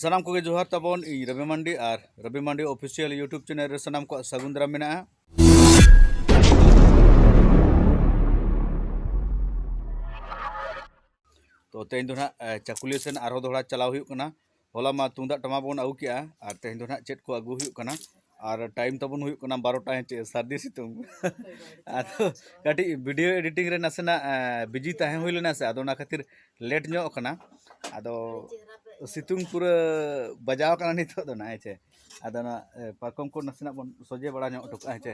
ᱥᱟᱱᱟᱢ ᱠᱚᱜᱮ ᱡᱚᱦᱟᱨ ᱛᱟᱵᱚᱱ ᱤᱧ ᱨᱚᱵᱤ ᱢᱟᱱᱰᱤ ᱟᱨ Robi Mandi official YouTube channel ᱨᱮ ᱥᱟᱱᱟᱢ ᱠᱚᱣᱟᱜ ᱥᱟᱹᱜᱩᱱ ᱫᱟᱨᱟᱢ ᱢᱮᱱᱟᱜᱼᱟ ᱛᱚ ᱛᱮᱦᱮᱧ ᱫᱚ ᱱᱟᱜ ᱪᱟᱠᱩᱞᱤᱭᱟᱹ ᱥᱮᱱ ᱟᱨᱦᱚᱸ ᱫᱚᱦᱲᱟ ᱪᱟᱞᱟᱣ ᱦᱩᱭᱩᱜ ᱠᱟᱱᱟ ᱦᱚᱞᱟ ᱢᱟ ᱛᱩᱢᱫᱟᱜ ᱴᱟᱢᱟᱠ ᱵᱚᱱ ᱟᱹᱜᱩ ᱠᱮᱜᱼᱟ ᱟᱨ ᱛᱮᱦᱮᱧ ᱫᱚ ᱱᱟᱜ ᱪᱮᱫ ᱠᱚ ᱟᱹᱜᱩ ᱦᱩᱭᱩᱜ ᱠᱟᱱᱟ ᱟᱨ ᱴᱟᱭᱤᱢ ᱛᱟᱵᱚᱱ ᱦᱩᱭᱩᱜ ᱠᱟᱱᱟ ᱵᱟᱨᱚᱴᱟ ᱦᱮᱸᱥᱮ ᱥᱟᱹᱨᱫᱤ ᱥᱤᱛᱩᱝ ᱟᱫᱚ ᱠᱟᱹᱴᱤᱡ ᱵᱷᱤᱰᱤᱭᱳ ᱮᱰᱤᱴᱤᱝ ᱨᱮ ᱱᱟᱥᱮᱱᱟᱜ ᱵᱤᱡᱤ ᱛᱟᱦᱮᱸ ᱦᱩᱭ ᱞᱮᱱᱟ ᱥᱮ ᱟᱫᱚ ᱚᱱᱟ ᱠᱷᱟᱹᱛᱤᱨ ᱞᱮᱴ ᱧᱚᱜ ᱠᱟᱱᱟ ᱟᱫᱚ ᱥᱤᱛᱩᱝ ᱯᱩᱨᱟᱹ ᱵᱟᱡᱟᱣ ᱠᱟᱱᱟ ᱱᱤᱛᱚᱜ ᱫᱚ ᱱᱟᱦᱟᱜ ᱦᱮᱸᱥᱮ ᱟᱫᱚ ᱚᱱᱟ ᱯᱟᱨᱠᱚᱢ ᱠᱚ ᱱᱟᱥᱮᱱᱟᱜ ᱵᱚᱱ ᱥᱚᱡᱷᱮ ᱵᱟᱲᱟ ᱧᱚᱜ ᱦᱚᱴᱚ ᱠᱟᱜᱼᱟ ᱦᱮᱸᱥᱮ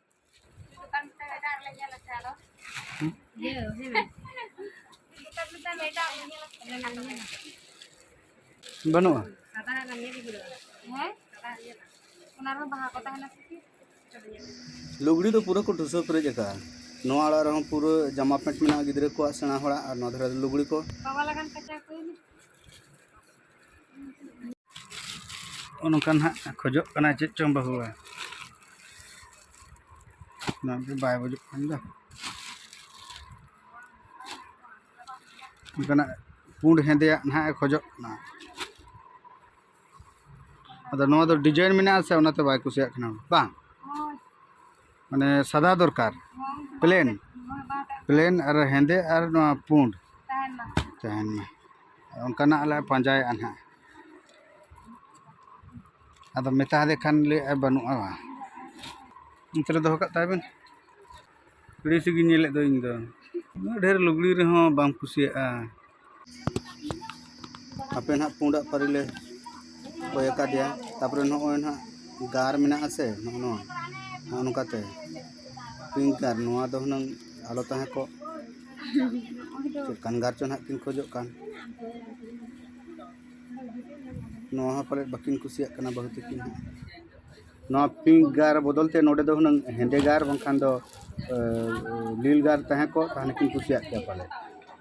ᱵᱟᱹᱱᱩᱜᱼᱟ ᱞᱩᱜᱽᱲᱤ ᱫᱚ ᱯᱩᱨᱟᱹ ᱠᱚ ᱴᱷᱩᱥᱟᱹᱣ ᱯᱮᱨᱮᱡ ᱟᱠᱟᱫᱼᱟ ᱱᱚᱣᱟ ᱟᱲᱟᱜ ᱨᱮᱦᱚᱸ ᱯᱩᱨᱟᱹ ᱡᱟᱢᱟ ᱯᱮᱱᱴ ᱢᱮᱱᱟᱜᱼᱟ ᱜᱤᱫᱽᱨᱟᱹ ᱠᱚᱣᱟᱜ ᱥᱮᱬᱟ ᱦᱚᱲᱟᱜ ᱟᱨ ᱱᱚᱣᱟ ᱫᱷᱟᱨᱮ ᱞᱩᱜᱽᱲᱤ ᱠᱚ ᱱᱚᱜᱼᱚ ᱱᱚᱝᱠᱟ ᱱᱟᱦᱟᱜ ᱠᱷᱚᱡᱚᱜ ᱠᱟᱱᱟᱭ ᱪᱮᱫ ᱪᱚᱝ ᱵᱟᱹᱦᱩᱣᱟ ᱱᱚᱣᱟ ᱫᱚ ᱵᱟᱭ ᱵᱩᱡᱩᱜ ᱠᱟᱱ ᱫᱚ ᱚᱱᱠᱟᱱᱟᱜ ᱯᱩᱸᱰ ᱦᱮᱸᱫᱮᱭᱟᱜ ᱱᱟᱦᱟᱜ ᱮ ᱠᱷᱚᱡᱚᱜ ᱠᱟᱱᱟ ᱟᱫᱚ ᱱᱚᱣᱟ ᱫᱚ ᱰᱤᱡᱟᱭᱤᱱ ᱢᱮᱱᱟᱜᱼᱟ ᱥᱮ ᱚᱱᱟᱛᱮ ᱵᱟᱭ ᱠᱩᱥᱤᱭᱟᱜ ᱠᱟᱱᱟ ᱵᱟᱝ ᱢᱟᱱᱮ ᱥᱟᱫᱟ ᱫᱚᱨᱠᱟᱨ ᱯᱞᱮᱱ ᱯᱞᱮᱱ ᱟᱨ ᱦᱮᱸᱫᱮ ᱟᱨ ᱱᱚᱣᱟ ᱯᱩᱸᱰ ᱛᱟᱦᱮᱱ ᱢᱟ ᱚᱱᱠᱟᱱᱟᱜ ᱞᱮ ᱯᱟᱸᱡᱟᱭᱮᱫᱼᱟ ᱦᱟᱸᱜ ᱟᱫᱚ ᱢᱮᱛᱟ ᱦᱟᱫᱮ ᱠᱷᱟᱱ ᱞᱟᱹᱭᱮᱫᱼᱟᱭ ᱵᱟᱹᱱᱩᱜᱼᱟ ᱚᱱᱛᱮ ᱨᱮ ᱫᱚᱦᱚ ᱠᱟᱜ ᱛᱟᱭ ᱵᱮᱱ ᱟᱹᱲᱤᱥ ᱜᱤᱧ ᱧᱮᱞᱮᱫ ᱫᱚ ᱤᱧᱫᱚ ᱩᱱᱟᱹᱜ ᱰᱷᱮᱨ ᱞᱩᱜᱽᱲᱤ ᱨᱮᱦᱚᱸ ᱵᱟᱢ ᱠᱩᱥᱤᱭᱟᱜᱼᱟ ᱦᱟᱯᱮ ᱱᱟᱦᱟᱜ ᱯᱩᱸᱰᱟᱜ ᱯᱟᱹᱨᱤ ᱞᱮ ᱠᱚᱭ ᱟᱠᱟᱫᱮᱭᱟ ᱛᱟᱯᱚᱨᱮ ᱱᱚᱜᱼᱚᱭ ᱱᱟᱦᱟᱜ ᱜᱟᱨ ᱢᱮᱱᱟᱜ ᱟᱥᱮ ᱱᱚᱜᱼᱚ ᱱᱚᱣᱟ ᱱᱚᱜᱼᱚ ᱱᱚᱝᱠᱟᱛᱮ ᱯᱤᱝᱠ ᱜᱟᱨ ᱱᱚᱣᱟ ᱫᱚ ᱦᱩᱱᱟᱹᱝ ᱟᱞᱚ ᱛᱟᱦᱮᱸ ᱠᱚᱜ ᱪᱮᱫ ᱠᱟᱱ ᱜᱟᱨ ᱪᱚ ᱱᱟᱦᱟᱜ ᱠᱤᱱ ᱠᱷᱚᱡᱚᱜ ᱠᱟᱱ ᱱᱚᱣᱟ ᱦᱚᱸ ᱯᱟᱞᱮᱫ ᱵᱟᱹᱠᱤᱱ ᱠᱩᱥᱤᱭᱟᱜ ᱠᱟᱱᱟ ᱵᱟᱹᱦᱩ ᱛᱟᱹᱠᱤᱱ ᱦᱚᱸ ᱱᱚᱣᱟ ᱯᱤᱝᱠ ᱜᱟᱨ ᱵᱚᱫᱚᱞ ᱛᱮ ᱱᱚᱰᱮ ᱫᱚ ᱦᱩᱱᱟᱹᱝ ᱦᱮᱸᱫᱮ ᱜᱟᱨ ᱵᱟᱝᱠᱷᱟᱱ ᱫᱚ ᱞᱤᱞ ᱜᱟᱨ ᱛᱟᱦᱮᱸ ᱠᱚᱜ ᱛᱟᱦᱚᱞᱮ ᱠᱤᱱ ᱠᱩᱥᱤᱭᱟᱜ ᱠᱮᱭᱟ ᱯᱟᱞᱮᱫ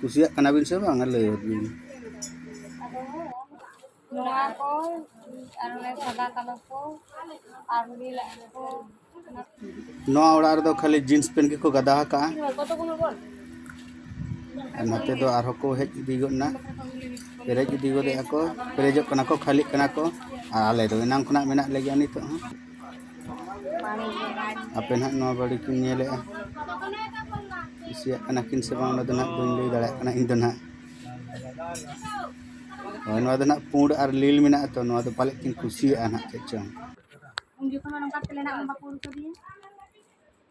ᱠᱩᱥᱤᱭᱟᱜ ᱠᱟᱱᱟ ᱵᱤᱱ ᱥᱮ ᱵᱟᱝ ᱞᱟᱹᱭ ᱵᱤᱱ ᱱᱚᱣᱟ ᱠᱚ ᱟᱨ ᱚᱱᱮ ᱥᱟᱫᱟ ᱠᱟᱞᱳ ᱠᱚ ᱟᱨ ᱱᱤᱞ ᱠᱚ ᱱᱚᱣᱟ ᱚᱲᱟᱜ ᱨᱮᱫᱚ ᱠᱷᱟᱹᱞᱤ ᱡᱤᱱᱥ ᱯᱮᱱᱴ ᱜᱮᱠᱚ ᱜᱟᱫᱟ ᱟᱠᱟᱜᱼᱟ ᱱᱚᱛᱮ ᱫᱚ ᱟᱨᱦᱚᱸ ᱠᱚ ᱦᱮᱡ ᱤᱫᱤ ᱜᱚᱫ ᱮᱱᱟ ᱯᱮᱨᱮᱡ ᱤᱫᱤ ᱜᱚᱫᱮᱜᱼᱟ ᱠᱚ ᱯᱮᱨᱮᱡᱚᱜ ᱠᱟᱱᱟ ᱠᱚ ᱠᱷᱟᱹᱞᱤᱜ ᱠᱟᱱᱟ ᱠᱚ ᱟᱨ ᱟᱞᱮ ᱫᱚ ᱮᱱᱟᱝ ᱠᱷᱚᱱᱟᱜ ᱢᱮᱱᱟᱜ ᱞᱮᱜᱮᱭᱟ ᱱᱤᱛᱚᱜ ᱦᱚᱸ ᱟᱯᱮ ᱱᱟᱦᱟᱜ ᱱᱚᱣᱟ ᱵᱟᱹᱲᱤ ᱠᱤᱱ ᱧᱮᱞᱮᱜᱼᱟ ᱠᱩᱥᱤᱭᱟᱜ ᱠᱟᱱᱟ ᱠᱤᱱ ᱥᱮ ᱵᱟᱝ ᱚᱱᱟ ᱫᱚ ᱱᱟᱦᱟᱜ ᱵᱟᱹᱧ ᱞᱟᱹᱭ ᱫᱟᱲᱮᱭᱟᱜ ᱠᱟᱱᱟ ᱤᱧ ᱫᱚ ᱱᱟᱦᱟᱜ ᱦᱳᱭ ᱱᱚᱣᱟ ᱫᱚ ᱱᱟᱦᱟᱜ ᱯᱩᱸᱰ ᱟᱨ ᱞᱤᱞ ᱢᱮᱱᱟᱜᱼᱟ ᱛᱚ ᱱᱚᱣᱟ ᱫᱚ ᱯᱟᱞᱮᱫ ᱠᱤᱱ ᱠᱩᱥᱤᱭᱟᱜᱼᱟ ᱱᱟᱦᱟᱜ ᱪᱮᱫ ᱪᱚᱝ ᱩᱱ ᱡᱚᱠᱷᱚᱱ ᱱᱚᱝᱠᱟ ᱛᱮᱞᱮ ᱱᱟᱜ ᱵᱟᱠᱚ ᱩᱰᱩᱠ ᱠᱟᱫᱮᱭᱟ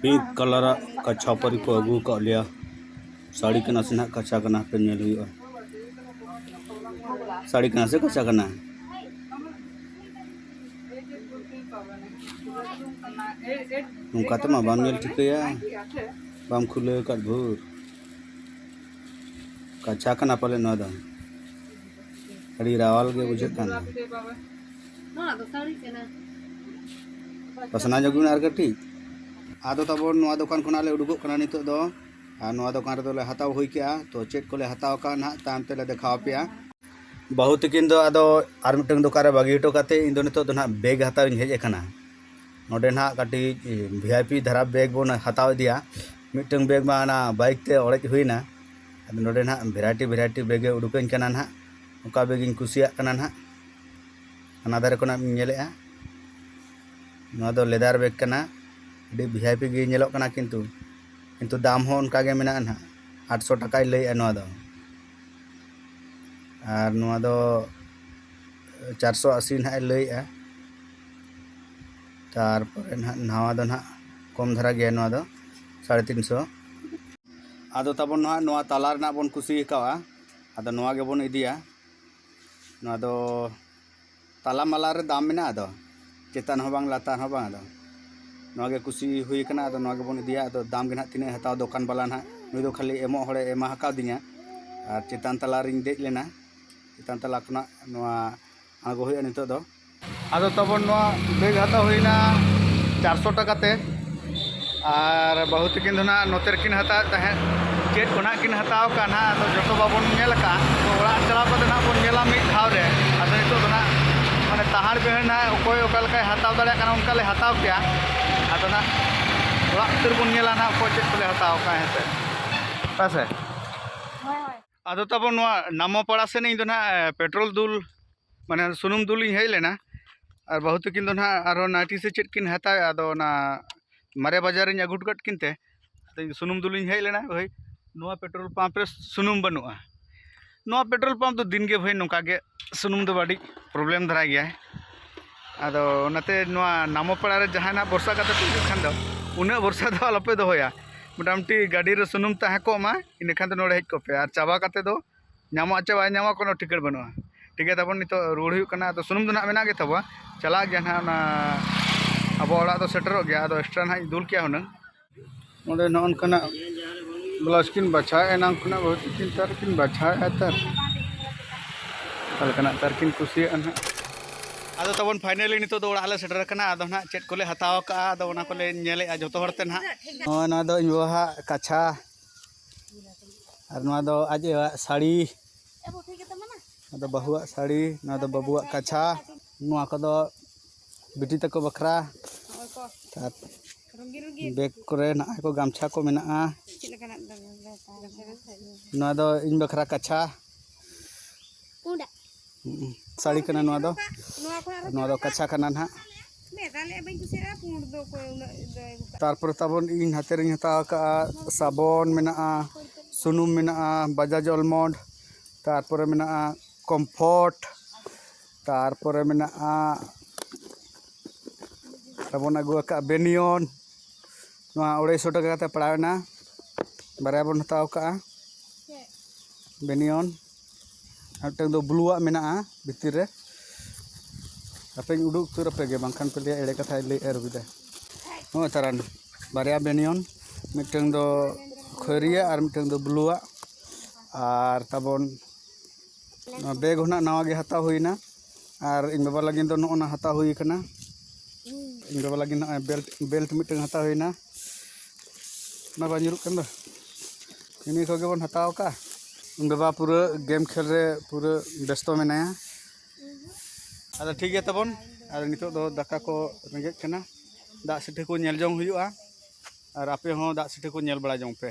ᱯᱤᱝᱠ ᱠᱟᱞᱟᱨᱟᱜ ᱠᱟᱪᱷᱟ ᱯᱟᱹᱨᱤ ᱠᱚ ᱟᱹᱜᱩ ᱟᱠᱟᱫ ᱞᱮᱭᱟ ᱥᱟᱹᱲᱤ ᱠᱟᱱᱟ ᱥᱮ ᱱᱟᱦᱟᱜ ᱠᱟᱪᱷᱟ ᱠᱟᱱᱟ ᱦᱟᱯᱮ ᱧᱮᱞ ᱦᱩᱭᱩᱜᱼᱟ ᱥᱟᱹᱲᱤ ᱠᱟᱱᱟ ᱥᱮ ᱠᱟᱪᱷᱟ ᱠᱟᱱᱟ ᱱᱚᱝᱠᱟ ᱛᱮᱢᱟ ᱵᱟᱢ ᱧᱮᱞ ᱴᱷᱤᱠᱟᱹᱭᱟ ᱵᱟᱢ ᱠᱷᱩᱞᱟᱹᱣ ᱟᱠᱟᱫ ᱵᱷᱳᱨ ᱠᱟᱪᱷᱟ ᱠᱟᱱᱟ ᱯᱟᱞᱮ ᱱᱚᱣᱟ ᱫᱚ ᱟᱹᱰᱤ ᱨᱟᱣᱟᱞ ᱜᱮ ᱵᱩᱡᱷᱟᱹᱜ ᱠᱟᱱᱟ ᱱᱚᱣᱟ ᱫᱚ ᱥᱟᱹᱲᱤ ᱠᱟᱱᱟ ᱯᱟᱥᱱᱟ ᱧᱚᱜ ᱵᱤᱱ ᱟᱨ ᱠᱟᱹᱴᱤᱡ ᱟᱫᱚ ᱛᱟᱵᱚᱱ ᱱᱚᱣᱟ ᱫᱚᱠᱟᱱ ᱠᱷᱚᱱᱟᱜ ᱞᱮ ᱩᱰᱩᱠᱚᱜ ᱠᱟᱱᱟ ᱱᱤᱛᱚᱜ ᱫᱚ ᱟᱨ ᱱᱚᱣᱟ ᱫᱚᱠᱟᱱ ᱨᱮᱫᱚ ᱞᱮ ᱦᱟᱛᱟᱣ ᱦᱩᱭ ᱠᱮᱜᱼᱟ ᱛᱚ ᱪᱮᱫ ᱠᱚᱞᱮ ᱦᱟᱛᱟᱣ ᱠᱟᱜᱼᱟ ᱱᱟᱦᱟᱜ ᱛᱟᱭᱚᱢ ᱛᱮᱞᱮ ᱫᱮᱠᱷᱟᱣ ᱟᱯᱮᱭᱟ ᱵᱟᱹᱦᱩ ᱛᱤᱠᱤᱱ ᱫᱚ ᱟᱫᱚ ᱟᱨ ᱢᱤᱫᱴᱟᱝ ᱫᱚᱠᱟᱱ ᱨᱮ ᱵᱟᱹᱜᱤ ᱦᱚᱴᱚ ᱠᱟᱛᱮ ᱤᱧ ᱫᱚ ᱱᱤᱛᱚᱜ ᱫᱚ ᱱᱟᱦᱟᱜ ᱵᱮᱜᱽ ᱦᱟᱛᱟᱣ ᱤᱧ ᱦᱮᱡ ᱟᱠᱟᱱᱟ ᱱᱚᱰᱮ ᱱᱟᱦᱟᱜ ᱠᱟᱹᱴᱤᱡ ᱵᱷᱤ ᱟᱭ ᱯᱤ ᱫᱷᱟᱨᱟ ᱵᱮᱜᱽ ᱵᱚᱱ ᱦᱟᱛᱟᱣ ᱤᱫᱤᱭᱟ ᱢᱤᱫᱴᱟᱝ ᱵᱮᱜᱽ ᱢᱟ ᱚᱱᱟ ᱵᱟᱭᱤᱠ ᱛᱮ ᱚᱲᱮᱡ ᱦᱩᱭᱱᱟ ᱟᱫᱚ ᱱᱚᱰᱮ ᱱᱟᱜ ᱵᱷᱮᱨᱟᱭᱴᱤ ᱵᱷᱮᱨᱟᱭᱴᱤ ᱵᱮᱜᱽ ᱮ ᱩᱰᱩᱠᱟᱹᱧ ᱠᱟᱱᱟ ᱱᱟᱜ ᱚᱠᱟ ᱵᱮᱜᱽ ᱤᱧ ᱠᱩᱥᱤᱭᱟᱜ ᱠᱟᱱᱟ ᱱᱟᱜ ᱦᱟᱱᱟ ᱫᱷᱟᱨᱮ ᱠᱷᱚᱱᱟᱜ ᱤᱧ ᱧᱮᱞᱮᱜᱼᱟ ᱱᱚᱣᱟ ᱫᱚ ᱞᱮᱫᱟᱨ ᱵᱮᱜᱽ ᱠᱟᱱᱟ ᱟᱹᱰᱤ ᱵᱷᱤ ᱟᱭ ᱯᱤ ᱜᱮ ᱧᱮᱞᱚᱜ ᱠᱟᱱᱟ ᱠᱤᱱᱛᱩ ᱠᱤᱱᱛᱩ ᱫᱟᱢ ᱦᱚᱸ ᱚᱱᱠᱟ ᱜᱮ ᱢᱮᱱᱟᱜᱼᱟ ᱱᱟᱜ ᱟᱴᱥᱚ ᱴᱟᱠᱟᱭ ᱞᱟᱹᱭᱮᱜᱼᱟ ᱱᱚᱣᱟ ᱫᱚ ᱟᱨ ᱱᱚᱣᱟ ᱫᱚ ᱪᱟᱨᱥᱚ ᱟᱥᱤ ᱱᱟᱜ ᱮ ᱞᱟᱹᱭᱮᱜᱼᱟ ᱛᱟᱨᱯᱚᱨᱮ ᱱᱟᱜ ᱱᱟᱣᱟ ᱫᱚ ᱱᱟᱜ ᱠᱚᱢ ᱫᱷᱟᱨᱟ ᱜᱮᱭᱟ ᱱᱚᱣᱟ ᱫᱚ ᱥᱟᱲᱮ ᱛᱤᱱ ᱥᱚ ᱟᱫᱚ ᱛᱟᱵᱚᱱ ᱱᱟᱜ ᱱᱚᱣᱟ ᱛᱟᱞᱟ ᱨᱮᱱᱟᱜ ᱵᱚᱱ ᱠᱩᱥᱤ ᱟᱠᱟᱣᱟ ᱟᱫᱚ ᱱᱚᱣᱟ ᱜᱮᱵᱚᱱ ᱤᱫᱤᱭᱟ ᱱᱚᱣᱟ ᱫᱚ ᱛᱟᱞᱟ ᱢᱟᱞᱟ ᱨᱮ ᱫᱟᱢ ᱢᱮᱱᱟᱜᱼᱟ ᱟᱫᱚ ᱪᱮᱛᱟᱱ ᱦᱚᱸ ᱵᱟᱝ ᱞᱟᱛᱟᱨ ᱦᱚᱸ ᱵᱟᱝ ᱟᱫᱚ ᱱᱚᱣᱟ ᱜᱮ ᱠᱩᱥᱤ ᱦᱩᱭ ᱟᱠᱟᱱᱟ ᱟᱫᱚ ᱱᱚᱣᱟ ᱜᱮᱵᱚᱱ ᱤᱫᱤᱭᱟ ᱟᱫᱚ ᱫᱟᱢ ᱜᱮ ᱱᱟᱜ ᱛᱤᱱᱟᱹᱜ ᱦᱟᱛᱟᱣ ᱫᱚᱠᱟᱱ ᱵᱟᱞᱟ ᱱᱟᱜ ᱱᱩᱭ ᱫᱚ ᱠᱷᱟᱹᱞᱤ ᱮᱢᱚᱜ ᱦᱚᱲᱮ ᱮᱢᱟ ᱟᱠᱟᱣᱫᱤᱧᱟ ᱟᱨ ᱪᱮᱛᱟᱱ ᱛᱟᱞᱟ ᱨᱤᱧ ᱫᱮᱡ ᱞᱮᱱᱟ ᱪᱮᱛᱟᱱ ᱛᱟᱞᱟ ᱠᱷᱚᱱᱟᱜ ᱱᱚᱣᱟ ᱟᱬᱜᱚ ᱦᱩᱭᱩᱜᱼᱟ ᱱᱤᱛᱚᱜ ᱫᱚ ᱟᱫᱚ ᱛᱟᱵᱚᱱ ᱱᱚᱣᱟ ᱵᱮᱜᱽ ᱦᱟᱛᱟᱣ ᱦᱩᱭᱱᱟ ᱪᱟᱨᱥᱚ ᱴᱟᱠᱟ ᱛᱮ ᱟᱨ ᱵᱟᱹᱦᱩ ᱛᱟᱹᱠᱤᱱ ᱫᱚ ᱱᱟᱦᱟᱜ ᱱᱚᱛᱮ ᱨᱮᱠᱤᱱ ᱦᱟᱛᱟᱣᱮᱫ ᱛᱟᱦᱮᱸᱫ ᱪᱮᱫ ᱠᱚ ᱱᱟᱦᱟᱜ ᱠᱤᱱ ᱦᱟᱛᱟᱣ ᱠᱟᱜ ᱱᱟᱦᱟᱜ ᱟᱫᱚ ᱡᱚᱛᱚ ᱵᱟᱵᱚᱱ ᱧᱮᱞ ᱟᱠᱟᱫ ᱛᱚ ᱚᱲᱟᱜ ᱪᱟᱞᱟᱣ ᱠᱟᱛᱮ ᱱᱟᱦᱟᱜ ᱵᱚᱱ ᱧᱮᱞᱟ ᱢᱤᱫ ᱫᱷᱟᱣ ᱨᱮ ᱟᱫᱚ ᱱᱤᱛᱚᱜ ᱫᱚ ᱱᱟᱦᱟᱜ ᱢᱟᱱᱮ ᱛᱟᱦᱟᱲ ᱵᱤᱦᱟᱹᱲ ᱱᱟᱦᱟᱜ ᱚᱠᱚᱭ ᱚᱠᱟ ᱞᱮᱠᱟᱭ ᱦᱟᱛᱟᱣ ᱫᱟᱲᱮᱭᱟᱜ ᱠᱟᱱᱟ ᱚᱱᱠᱟ ᱞᱮ ᱦᱟᱛᱟᱣ ᱠᱮᱜᱼᱟ ᱟᱫᱚ ᱱᱟᱦᱟᱜ ᱚᱲᱟᱜ ᱩᱛᱟᱹᱨ ᱵᱚᱱ ᱧᱮᱞᱟ ᱱᱟᱦᱟᱜ ᱚᱠᱚᱭ ᱪᱮᱫ ᱠᱚᱞᱮ ᱦᱟᱛᱟᱣ ᱠᱟᱜᱼᱟ ᱦᱮᱸ ᱥᱮ ᱦᱮᱸ ᱥᱮ ᱟᱫᱚ ᱛᱟᱵᱚᱱ ᱱᱚᱣᱟ ᱱᱟᱢᱚᱯᱟᱲᱟ ᱥᱮᱫ ᱤᱧ ᱫᱚ ᱱᱟᱦᱟᱜ ᱯᱮᱴᱨᱳᱞ ᱫᱩᱞ ᱢᱟᱱᱮ ᱥᱩᱱᱩᱢ ᱫᱩᱞ ᱤᱧ ᱦᱮᱡ ᱞᱮᱱᱟ ᱟᱨ ᱵᱟᱹᱦᱩ ᱛᱟᱹᱠᱤᱱ ᱫᱚ ᱱᱟᱦᱟᱜ ᱟᱨᱦᱚᱸ ᱱᱟᱭᱴᱤ ᱥᱮ ᱪᱮᱫ ᱠᱤᱱ ᱦᱟᱛᱟᱣᱮᱫᱼᱟ ᱟᱫᱚ ᱚᱱᱟ ᱢᱟᱨᱮ ᱵᱟᱡᱟᱨ ᱤᱧ ᱟᱹᱜᱩ ᱦᱚᱴᱚ ᱠᱟᱫ ᱠᱤᱱ ᱛᱮ ᱟᱫᱚ ᱤᱧ ᱥᱩᱱᱩᱢ ᱫᱩᱞ ᱤᱧ ᱦᱮᱡ ᱞᱮᱱᱟ ᱵᱷᱟᱹᱭ ᱱᱚᱣᱟ ᱯᱮᱴᱨᱳᱞ ᱯᱟᱢᱯ ᱨᱮ ᱥᱩᱱᱩᱢ ᱵᱟᱹᱱᱩᱜᱼᱟ ᱱᱚᱣᱟ ᱯᱮᱴᱨᱳᱞ ᱯᱟᱢᱯ ᱫᱚ ᱫᱤᱱ ᱜᱮ ᱵᱷᱟᱹᱭ ᱱᱚᱝᱠᱟ ᱜᱮ ᱥᱩᱱᱩᱢ ᱫᱚ ᱟᱹᱰᱤ ᱯᱨᱚᱵᱞᱮᱢ ᱫᱷᱟᱨᱟ ᱜᱮᱭᱟᱭ ᱟᱫᱚ ᱚᱱᱟᱛᱮ ᱱᱚᱣᱟ ᱱᱟᱢᱚ ᱯᱟᱲᱟ ᱨᱮ ᱡᱟᱦᱟᱸᱭ ᱱᱟᱦᱟᱜ ᱵᱷᱚᱨᱥᱟ ᱠᱟᱛᱮᱫ ᱯᱮ ᱦᱤᱡᱩᱜ ᱠᱷᱟᱱ ᱫᱚ ᱩᱱᱟᱹᱜ ᱵᱷᱚᱨᱥᱟ ᱫᱚ ᱟᱞᱚ ᱯᱮ ᱫᱚᱦᱚᱭᱟ ᱢᱚᱴᱟᱢᱩᱴᱤ ᱜᱟᱹᱰᱤ ᱨᱮ ᱥᱩᱱᱩᱢ ᱛᱟᱦᱮᱸ ᱠᱚᱜ ᱢᱟ ᱤᱱᱟᱹ ᱠᱷᱟᱱ ᱫᱚ ᱱᱚᱰᱮ ᱦᱮᱡ ᱠᱚᱜ ᱯᱮ ᱟᱨ ᱪᱟᱵᱟ ᱠᱟᱛᱮᱫ ᱫᱚ ᱧᱟᱢᱚᱜ ᱟᱥᱮ ᱵᱟᱭ ᱧᱟᱢᱚᱜᱼᱟ ᱠᱳᱱᱳ ᱴᱷᱤᱠᱟᱹᱬ ᱵᱟᱹᱱᱩᱜᱼᱟ ᱴᱷᱤᱠ ᱜᱮᱭᱟ ᱛᱟᱵᱚᱱ ᱱᱤᱛᱚᱜ ᱨᱩᱣᱟᱹᱲ ᱦᱩᱭᱩᱜ ᱠᱟᱱᱟ ᱟᱫᱚ ᱥᱩᱱᱩᱢ ᱫᱚ ᱱᱟᱦᱟᱜ ᱢᱮᱱᱟᱜ ᱜᱮ ᱛᱟᱵᱚᱣᱟ ᱪᱟᱞᱟᱜ ᱜᱮᱭᱟ ᱱᱟᱦᱟᱜ ᱚᱱᱟ ᱟᱵᱚ ᱚᱲᱟᱜ ᱫᱚ ᱥᱮᱴᱮᱨᱚᱜ ᱜᱮᱭᱟ ᱟᱫᱚ ᱮᱠᱥᱴᱨᱟ ᱱᱟᱦᱟᱜ ᱤᱧ ᱫᱩᱞ ᱠᱮᱜᱼᱟ ᱦᱩᱱᱟᱹᱝ ᱚᱸᱰᱮ ᱱᱚᱜᱼᱚ ᱱᱚᱝᱠᱟᱱᱟᱜ ᱵᱞᱟᱣᱩᱡᱽ ᱠᱤᱱ ᱵᱟᱪᱷᱟᱣᱮᱫᱼᱟ ᱮᱱᱟᱱ ᱠᱷᱚᱱᱟᱜ ᱵᱟᱹᱦᱩ ᱛᱟᱹᱠᱤᱱ ᱛᱟᱨ ᱠᱤᱱ ᱵᱟᱪᱷᱟᱣᱮᱫᱼᱟ ᱛᱟᱨ ᱚᱠᱟ ᱞᱮᱠᱟᱱᱟᱜ ᱛᱟᱨ ᱠᱤᱱ ᱠᱩᱥᱤᱭᱟᱜᱼᱟ ᱱᱟᱦᱟᱜ ᱟᱫᱚ ᱛᱟᱵᱚᱱ ᱯᱷᱟᱭᱱᱟᱞᱤ ᱱᱤᱛᱚᱜ ᱫᱚ ᱚᱲᱟᱜ ᱞᱮ ᱥᱮᱴᱮᱨ ᱟᱠᱟᱱᱟ ᱟᱫᱚ ᱱᱟᱦᱟᱜ ᱪᱮᱫ ᱠᱚᱞᱮ ᱦᱟᱛᱟᱣ ᱟᱠᱟᱫᱼᱟ ᱟᱫᱚ ᱚᱱᱟ ᱠᱚᱞᱮ ᱧᱮᱞᱮᱫᱼᱟ ᱡᱚᱛᱚ ᱦᱚᱲᱛᱮ ᱱᱟᱦᱟᱜ ᱱᱚᱜᱼᱚᱭ ᱱᱚᱣᱟ ᱫᱚ ᱤᱧ ᱵᱟᱵᱟᱣᱟᱜ ᱠᱟᱪᱷᱟ ᱟᱨ ᱱᱚᱣᱟ ᱫᱚ ᱟᱡ ᱟᱭᱳᱣᱟᱜ ᱥᱟᱹᱲᱤ ᱱᱚᱣᱟ ᱫᱚ ᱵᱟᱹᱦᱩᱣᱟᱜ ᱥᱟᱹᱲᱤ ᱱᱚᱣᱟ ᱫᱚ ᱵᱟᱹᱵᱩᱣᱟᱜ ᱠᱟᱪᱷᱟ ᱱᱚᱣᱟ ᱠᱚᱫᱚ ᱵᱤᱴᱤ ᱛᱟᱠᱚ ᱵᱟᱠᱷᱨᱟ ᱟᱨ ᱵᱮᱜᱽ ᱠᱚᱨᱮ ᱱᱟᱜᱼᱟᱭ ᱠᱚ ᱜᱟᱢᱪᱷᱟ ᱠᱚ ᱢᱮᱱᱟᱜᱼᱟ ᱱᱚᱣᱟ ᱫᱚ ᱤᱧ ᱵᱟᱠᱷᱨᱟ ᱠᱟᱪᱷᱟ ᱥᱟᱹᱲᱤ ᱠᱟᱱᱟ ᱱᱚᱣᱟ ᱫᱚ ᱱᱚᱣᱟ ᱫᱚ ᱠᱟᱪᱷᱟ ᱠᱟᱱᱟ ᱱᱟᱦᱟᱜ ᱛᱟᱨᱯᱚᱨᱮ ᱛᱟᱵᱚᱱ ᱤᱧ ᱦᱟᱛᱮ ᱨᱤᱧ ᱦᱟᱛᱟᱣ ᱟᱠᱟᱫᱼᱟ ᱥᱟᱵᱚᱱ ᱢᱮᱱᱟᱜᱼᱟ ᱥᱩᱱᱩᱢ ᱢᱮᱱᱟᱜᱼᱟ ᱵᱟᱡᱟᱡᱽ ᱚᱞᱢᱚᱱᱰ ᱛᱟᱨᱯᱚᱨᱮ ᱢᱮᱱᱟᱜᱼᱟ ᱠᱚᱢᱯᱷᱚᱨᱴ ᱛᱟᱨᱯᱚᱨᱮ ᱢᱮᱱᱟᱜᱼᱟ ᱟᱨᱵᱚᱱ ᱟᱹᱜᱩ ᱟᱠᱟᱫ ᱵᱮᱱᱤᱭᱚᱱ ᱱᱚᱣᱟ ᱟᱹᱲᱟᱹᱭᱥᱚ ᱴᱟᱠᱟ ᱠᱟᱛᱮ ᱯᱟᱲᱟᱣᱮᱱᱟ ᱵᱟᱨᱭᱟ ᱵᱚᱱ ᱦᱟᱛᱟᱣ ᱠᱟᱜᱼᱟ ᱵᱮᱱᱤᱭᱚᱱ ᱟᱨ ᱢᱤᱫᱴᱟᱝ ᱫᱚ ᱵᱞᱩᱣᱟᱜ ᱢᱮᱱᱟᱜᱼᱟ ᱵᱷᱤᱛᱤᱨ ᱨᱮ ᱦᱟᱯᱮᱧ ᱩᱰᱩᱠ ᱩᱛᱟᱹᱨ ᱟᱯᱮ ᱜᱮ ᱵᱟᱝᱠᱷᱟᱱ ᱯᱮ ᱞᱟᱹᱭᱟ ᱮᱲᱮ ᱠᱟᱛᱷᱟᱭ ᱞᱟᱹᱭᱮᱫᱼᱟ ᱨᱚᱵᱤᱫᱟ ᱱᱚᱜᱼᱚᱭ ᱛᱟᱨᱟᱱ ᱵᱟᱨᱭᱟ ᱵᱮᱱᱤᱭᱚᱱ ᱢᱤᱫᱴᱟᱝ ᱫᱚ ᱠᱷᱚᱭᱨᱤᱭᱟᱜ ᱟᱨ ᱢᱤᱫᱴᱟᱝ ᱫᱚ ᱵᱞᱩᱣᱟᱜ ᱟᱨ ᱛᱟᱵᱚᱱ ᱱᱚᱣᱟ ᱵᱮᱜᱽ ᱦᱚᱸ ᱱᱟᱜ ᱱᱟᱣᱟ ᱜᱮ ᱦᱟᱛᱟᱣ ᱦᱩᱭᱱᱟ ᱟᱨ ᱤᱧ ᱵᱟᱵᱟ ᱞᱟᱹᱜᱤᱫ ᱫᱚ ᱱᱚᱜᱼᱚ ᱱᱟ ᱦᱟᱛᱟᱣ ᱦᱩᱭ ᱠᱟᱱᱟ ᱤᱧ ᱵᱟᱵᱟ ᱞᱟᱹᱜᱤᱫ ᱱᱚᱜᱼᱚᱭ ᱵᱮᱞᱴ ᱵᱮᱞᱴ ᱢᱤᱫᱴᱟᱝ ᱦᱟᱛᱟᱣ ᱦᱩᱭᱱᱟ ᱚᱱᱟ ᱵᱟᱝ ᱧᱩᱨᱩᱜ ᱠᱟᱱ ᱫᱚ ᱤᱱᱟᱹ ᱠᱚᱜᱮ ᱵᱚᱱ ᱦᱟᱛᱟᱣ ᱠᱟᱜᱼᱟ ᱤᱧ ᱵᱟᱵᱟ ᱯᱩᱨᱟᱹ ᱜᱮᱢ ᱠᱷᱮᱞ ᱨᱮ ᱯᱩᱨᱟᱹ ᱵᱮᱥᱛᱚ ᱢᱮᱱᱟᱭᱟ ᱟᱫᱚ ᱴᱷᱤᱠ ᱜᱮᱭᱟ ᱛᱟᱵᱚᱱ ᱟᱨ ᱱᱤᱛᱚᱜ ᱫᱚ ᱫᱟᱠᱟ ᱠᱚ ᱨᱮᱸᱜᱮᱡ ᱠᱟᱱᱟ ᱫᱟᱜ ᱥᱤᱴᱷᱟᱹ ᱠᱚ ᱧᱮᱞ ᱡᱚᱝ ᱦᱩᱭᱩᱜᱼᱟ ᱟᱨ ᱟᱯᱮ ᱦᱚᱸ ᱫᱟᱜ ᱥᱤᱴᱷᱟᱹ ᱠᱚ ᱧᱮᱞ ᱵᱟᱲᱟ ᱡᱚᱝ ᱯᱮ